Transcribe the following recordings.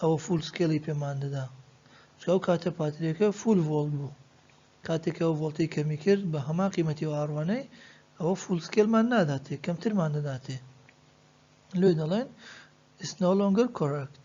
ئەوە فول سکێڵی پێمان دەدا چون ئەو کاتە پاتریەکە فول ڤۆڵت بوو کاتێک ئەو ڤۆڵتی کەمی کرد بە هەمان قیمەتی و ئاڕوانەی ئەوە فول سکێلمان ناداتێ کەمترمان دەداتێ لێ دەڵێن It's no longer correct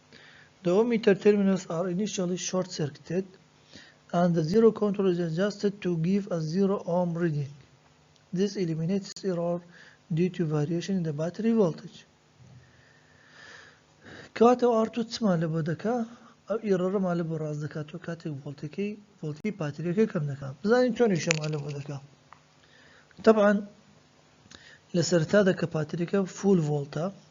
دووەمی تەرتێرمینۆس ئاڕ ئینیشیەڵی شۆرت سێرکتێد ئەند دە زیرۆ کۆنترۆڵ ئیز ئەجاستێد توو گیڤ ئە زیرۆ ئۆم ڕیدینگ دیس ئیلیمینێتس ئیڕۆر دیو توو ڤاریەشن ئین دە باتری ڤۆڵتج کاتە و ئاڕ توو چمان لەبۆ دەکا ئەو ئیڕۆرەمان لەبۆ ڕاست دەکاتەوە کاتێک ڤۆڵتەکەی ڤۆڵتی پاتریەکە کەم دەکا بزانین چۆنیشەمان لەبۆ دەکا تەبعەن لە سەرەتادا کە پاتریەکە فوول ڤۆڵتە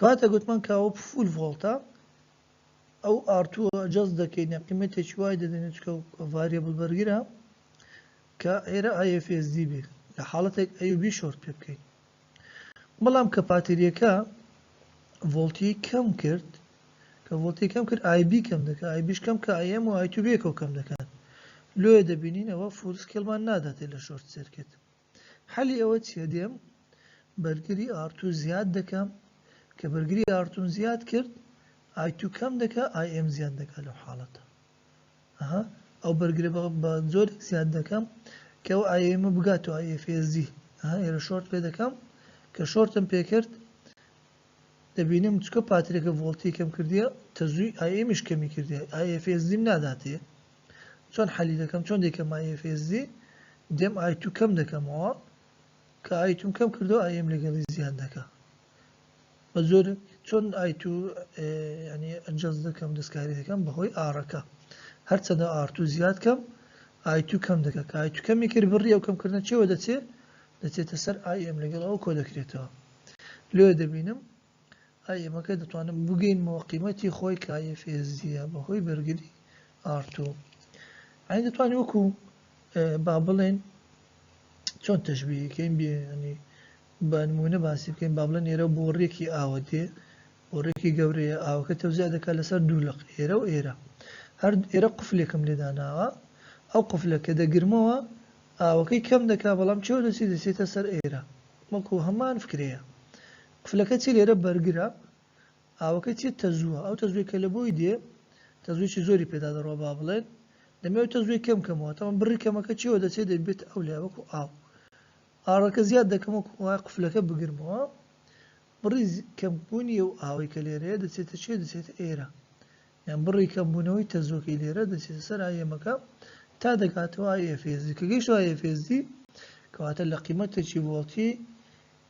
کاتێک وتمان کە ئەوە فول ڤۆڵتە ئەو ئارتووە جەست دەکەین یا قیمەتێکی وای دەدەین چکە و ڤاریبل بەرگرە کە ئێرە IFSD بێ لە حاڵەتێک ئەیوB شۆرت پێ بکەین بەڵام کە پاتریەکە ڤۆڵتی کەم کرد کە ڤۆڵتی کەم کرد IB کەم دەکە IBش کەم کە IM و ITB کەم دەکات لۆیە دەبینین ئەوە فول سکێڵمان ناداتێ لە شۆرت سێرکێت حەلی ئەوە چیە دێم بەرگری ئارتو زیاد دەکەم کە بەرگری ئارتوم زیاد کرد ئای تو کەم دەکا ئای ئێم زیاد دەکا لەو حاڵەتە ئەها ئەو بەرگرە بە جۆرێک زیاد دەکەم کە ئەو ئای ئێمە بگات و ئای ئێفێزی ئەها ئێرە شۆرت پێ دەکەم کە شۆرتم پێ کرد دەبینم چکە پاترێکە ڤۆڵتی کەم کردیە تەزووی ئای ئێمیش کەمی کردیە ئای ئێفێزیم ناداتێ چۆن حەلی دەکەم چۆن دەیکەم مای FSD دێم ئای تو کەم دەکەمەوە کە ئای توم کەم کردەوە ئای ئێم لەگەڵی زیاد دەکا بە زۆر چۆن ئای تو ینی ئەجەز دەکەم دەستکاری دەکەم بەهۆی ئارەکە هەرچەندە ئارتو زیاد کەم ئای تو کەم دەکە کە ئای تو کەمی کرد بڕی ئەو کەمکردن چێوە دەچێ دەچێتە سەر ئای ئێم لەگەڵ ئەو کۆ دەکرێتەوە لێ دەبینم ئای ئێمە کەی دەتوانن بگەینمەوە قیمەتی خۆی کایە فێزیە بەهۆی بەرگری ئارتۆ ئەین دەتوانین وەکو با بڵێن چۆن تەشبیەکەین بێنی بە نمونە باسی بکەین با بڵێن ئێرە بۆ ڕێکی ئاوە دێ بۆ ڕێکی گەورەیە ئاوەکە تەوزیا دەکات لەسەر دوو لەق ئێرە و ئێرە هەر ئێرە قفلێکم لێداناوە ئەو قفلە کە دەگرمەوە ئاوەکەی کەم دەکا بەڵام چێو دەسی دەسێتە سەر ئێرە وەکو هەمان فکرەیە قفلەکە چیە لێرە بەرگرە ئاوەکە چیە تەزووە ئەو تەزووی کە لەبۆی دێ تەزوویی زۆری پێدا دەڕوا با بڵێن دەمێ ئەو تەزووی کەم کەمەوە تەمەن بڕی کەمەکە چیەوە دەچێ دەبێت ئەو لای وەکو ئاو ئاڕەکە زیاد دەکەم وەکو ئەوە قفلەکە بگرمەوە بڕی کەم بوونی ئەو ئاوەی کە لێرەیە دەچێتە چێ دەچێتە ئێرە یان بڕی کەم بوونەوەی تەزووەکەی لێرە دەچێتە سەر ئایەمەکە تا دەگاتەوە ئایە فێزی کە گەیشتەوە ئایە فێزی کەواتە لە قیمەتێکی ڤۆڵتی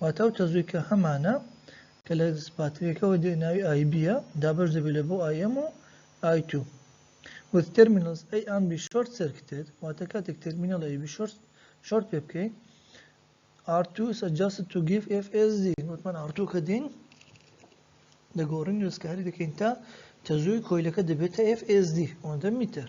واتە ئەو تەزویکە هەمانە کە لە پاتریەکەوە دێ ناوی IB ە دابەش دەبێت لە بۆ IM و I2 with terminals A and B short circuited واتە کاتێک تەرمینەڵ AB short short پێ بکەین R2 is adjusted to give FSD وتمان R2 کە دین دەگۆڕین وێستکاری دەکەین تا تەزووی کۆیلەکە دەبێتە FSD ئەوەندە میتر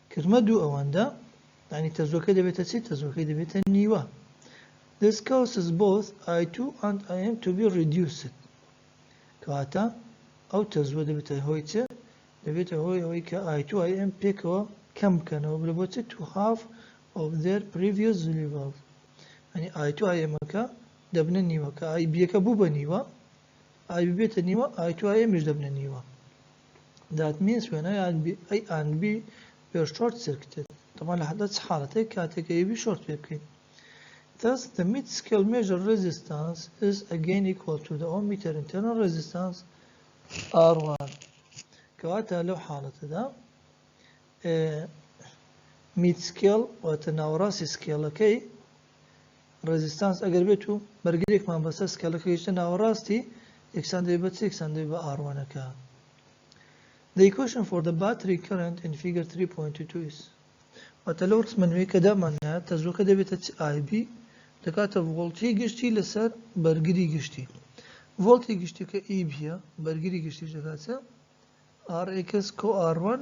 کرمە دوو ئەوەندە یانی تەزووەکە دەبێتە چی؟ تەزووەکەی دەبێتە نیوە This causes both I2 and IM to be reduced کەواتە ئەو تەزووە دەبێتە هۆی چ؟ دەبێتە هۆی ئەوەی کە I2 IM پێکەوە کەم بکەنەوە بلە بۆ چ؟ To half of their previous level یعنی I2 IM ەکە دەبنە نیوە کە IB ەکە بوو بە نیوە IB بێتە نیوە I2 IM یش دەبنە نیوە دات مینس وێن ئەی ئاند بی ئەی ئاند بی وێر شۆرت سێرکتێد تەمان لە حەدە چ حاڵەتێک کاتێک ئەی بی شۆرت پێ بکەین Thus, the mid-scale measure resistance is again equal to the ohmmeter internal resistance R1 کەواتە لەو حاڵەتەدا مید سکێڵ واتە ناوەڕاستی سکێڵەکەی ڕێزیستانس ئەگەر بێت و بەرگرێکمان بەسەر سکەلەکە گەیشتە ناوەڕاستی، یەکسان دەبێت بە چ؟ یەکسان دەبێت بە ئاڕ وەنەکە. The equation for the battery current in figure 3.22 is واتە لەو ڕسمە نوێی کە داماننایە تەزووەکە دەبێتە چ ئای بی دەکاتە ڤۆڵتی گشتی لەسەر بەرگری گشتی ڤۆڵتی گشتیکە ئی بیە بەرگری گشتیش دەکاتە RX کۆ R1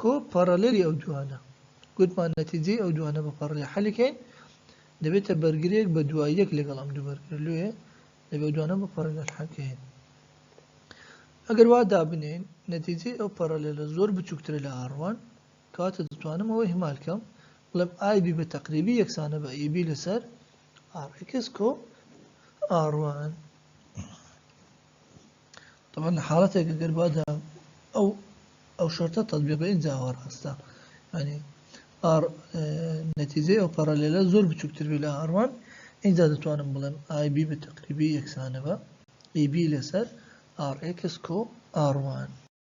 کۆ پارالێلی ئەو دوانە گوتمان نەتیجەی ئەو دوانە بە پارالێل حەلیکەین دەبێتە بەرگرێک بە دوای یەک لەگەڵ ئەم دوو بەرگرە لۆیە دەبێ ئەو دوانە بە پارالێل حەلکەین ئەگەر وا دابنێین نەتیجەی ئەو پارالێلە زۆر بچووکترە لە R1 کەواتە دەتوانم ئەوە ئیهمال کەم بڵێم IB بە تەقریبی یەکسانە بە EB لەسەر RX کۆ R1 تەبعەن لە حاڵەتێکە گەر بادا ئەو ئەو شەرتە تەطبیق بە ئینجا ئەوە ڕاستە ینی ئار نەتیجەی ئەو پەڕەلێلە زۆر بچووکتر بێ لە ئاروان ئینجا دەتوانم بڵێم ئای بی بە تەقریبی یەکسانە بە ئی بی لەسەر ئاڕ ئێکس کۆ ئاڕوان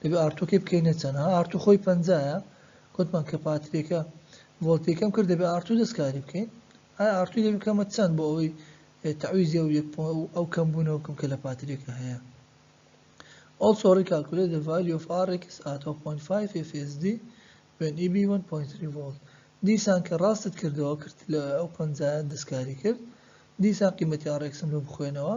دەبێ ئارتوەکەی بکەینە چەند ها ئارتو خۆی پەنجایە گوتمان کە پاتریەکە ڤۆلتێکەم کرد دەبێ ئارتو دەستکاری بکەین ئایا ئارتوی دەبێ بکەمە چەند بۆ ئەوەی تعویزی ئەو یەک ئەو کەم بوونەوە بکەم کە لە پاتریەکە هەیە Also recalculate the value of Rx at 0.5 FSD when EB 1.3 volt دیسان کە ڕاستت کردەوە کرد لە ئەو پەنجایە دەستکاری کرد دیسان قیمەتی Rx لۆ بخوێنەوە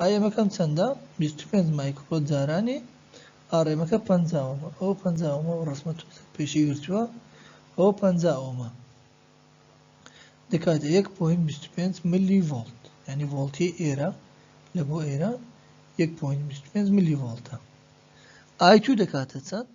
ئایەمەکەم چەندە؟ بیست و پێنج مایکڕۆ جارانی ئاڕێمەکە پەنجا ئۆمە ئەوە پەنجا ئۆمە و ڕەسمە تۆزێک پێشی گرتووە ئەوە پەنجا ئۆمە دەکاتە یەک پۆین بیست و پێنج ملی ڤۆڵت یعنی ڤۆڵتی ئێرە لە بۆ ئێرە یەک پۆین بیست و پێنج ملی ڤۆڵتە ئای تو دەکاتە چەند؟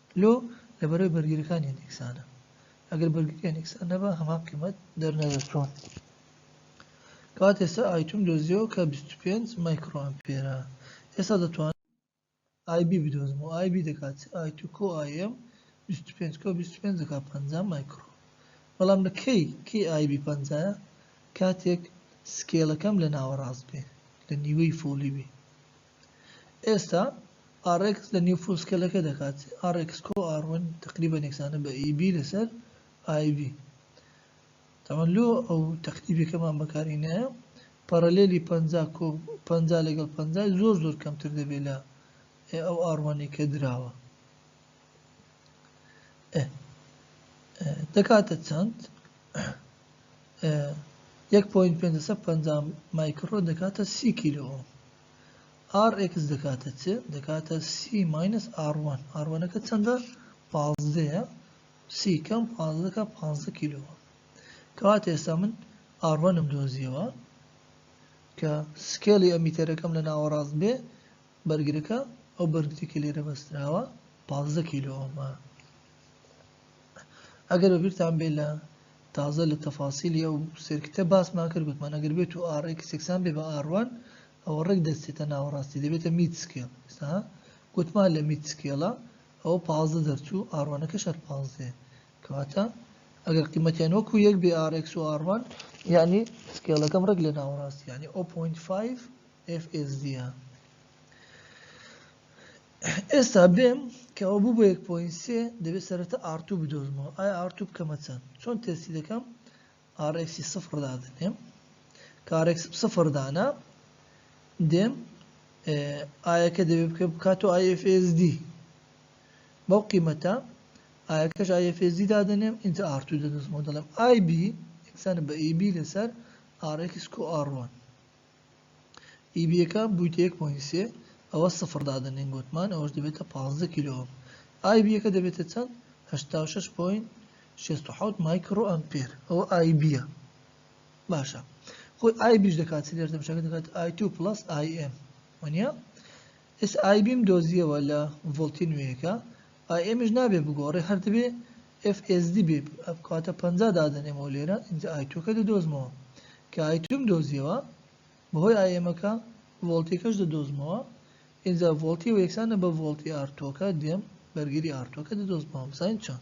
لۆ لە بەرای بەرگریەکان یەن یەکسانە؟ ئەگەر بەرگریان یەکسان نەبا هەمان قیمەت دەرنەدەچوون. کەواتە ئێستا ئایتوم دۆزیەوە کە بیست و پێنج مایکرۆ ئەمپێرە ئێستا دەتوان ئای بی بدۆزم و ئای بی دەکات ئای تو کۆ ئای ئێم بیست و پێنج کۆ بیست و پێنج دەکات پەنجا مایکرۆ بەڵام لە کەی کەی ئای بی پەنجایە کاتێک سکێلەکەم لە ناوەڕاست بێ لە نیوەی فۆلی بێ ئێستا ئاڕێکس لە نێو فولسکێلەکە دەکات ئاڕێکس کۆ ئاڕ وەن تەقریبەن یەکسانە بە ئی بی لەسەر ئای بی تەمەن لۆ ئەو تەقریبەکەمان بەکاری نایە پەڕەلێلی پەنجا کۆ پەنجا لەگەڵ پەنجای زۆر زۆر کەمتر دەبێت لە ئەو ئاڕ وەنەی کە دراوە. دەکاتە چەند؟ یەک پۆینت پێنج سەد پەنجا مایکڕۆ دەکاتە سی کیلۆ ئۆم ئار ئێکس دەکاتە چ دەکاتە سی ماینەس ئاڕوان ئاڕوانەکە چەندە پازدەیە سی کەم پازدەکە پازدە کیلۆ کەوات ئێستا من ئاڕوانم دۆزیەوە کە سکێڵی ئەمیتەرەکەم لە ناوەڕاست بێ بەرگرەکە، ئەو بەرگرەی کە لێرە بەستراوە پازدە کیلۆ ئۆمە. ئەگەر بە بیرتان بێ لە تازە لە تەفاسیلی ئەو سێرکتە باسمان کرد گوتمان ئەگەر بێت و ئاڕ ئێکس یەکسان بێ بە ئاڕ وان ئەوە ڕێک دەستێتە ناوەڕاستی دەبێتە میت سکێڵ ئێستا گوتمان لە میت سکێڵە ئەوە پازدە دەرچوو ئاڕ وانەکەش هەر پازدەیە کەواتە ئەگەر قیمەتیان وەکو یەک بێ ئاڕ ئێکس و ئاڕ وان یانی سکێڵەکەم ڕێک لە ناوەڕاستی یانی 0.5 FSD ە. ئێستا بێم کە ئەوە بوو بە یەک پۆینت سێ، دەبێ سەرەتا ئاڕ توو بدۆزمەوە. ئایا ئاڕ توو بکەمە چەند؟ چۆن تێستی دەکەم؟ ئاڕ ئێکسی سفڕ دادەنێم. کە ئاڕ ئێکسم سفڕ دانا، دێم ئایەکە دەبێ بکە بکاتەوە ئای ئێف ئێس دی. بەو قیمەتە ئایەکەش ئای ئێف ئێس دی دادەنێم، ئینجا ئاڕ توو دەدۆزمەوە دەڵێم ئای بی یەکسانە بە ئی بی لەسەر ئاڕ ئێکس کو ئاڕ وان. ئی بیەکان بوویتە یەک پۆینت سێ ئەوە سفڕ دادەنێین گۆتمان ئەوەش دەبێتە پازدە کیلۆ ئۆم ئای بیەکە دەبێتە چەند هەشتا و شەش پۆینت شێست و حەوت مایکڕۆ ئەمپێر ئەوە ئای بیە باشە خۆی ئای بیش دەکات چ لێرە دەمشەکە دەکات ئای تو پڵەس ئای ئێم وەنیە ئێس ئای بیم دۆزیەوە لە ڤۆڵتی نوێیەکە ئای ئێمیش نابێ بگۆڕێ هەر دەبێ ئێف ئێس دی بێ بکاتە پەنجا دادەنێمەوە لێرە ئینجا ئای توەکە دەدۆزمەوە کە ئای توم دۆزیەوە بەهۆی ئای ئێمەکە ڤۆڵتیەکەش دەدۆزمەوە ئینجا ڤۆڵتی وە یەکسانە بە ڤۆڵتی ئار توەکە دێم بەرگری ئار توەکە دەدۆزمەوە بزانین چۆن.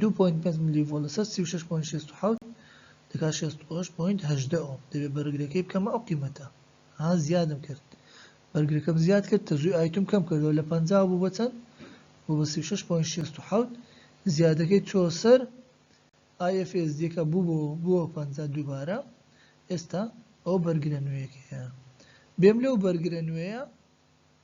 دوو پۆینت پێنج ملی ڤۆڵت لەسەر سی و شەش پۆینت شەست و حەوت دەکات شەست و هەشت پۆینت هەژدە ئۆم دەبێت بەرگرەکەی بکەمە ئەو قیمەتە ها زیادم کرد بەرگرەکەم زیاد کرد تەزوی ئایتوم کەم کردەوە لە پەنجا بوو بە چەند بۆ بە سی و شەش پۆینت شەست و حەوت زیادەکەی چۆ سەر IFS دیەکە بوو بۆ بووە پەنجا دووبارە ئێستا ئەو بەرگرە نوێیەکەیە بێم لەو بەرگرە نوێیە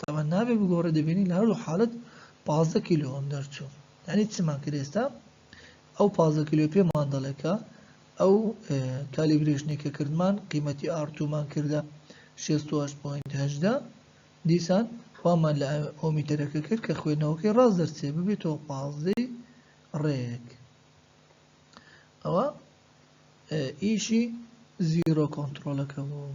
تاوان نابێ بگۆڕێ دەبینی لە هەردوو حالت پازدە کیلۆ هەم دەرچوو یعنی چمان کرد ئێستا ئەو پازدە کیلۆ پێمان دەڵێ کە ئەو کالیبرێشنی کە کردمان قیمەتی ئارتومان کردە 16.8 دیسان خوامان لە ئۆمیتەرەکە کرد کە خوێنەوەکەی ڕاست دەرچێ ببێتەوە پازدەی ڕێک ئەوە ئیشی زیرۆ کۆنتڕۆڵەکە بوو.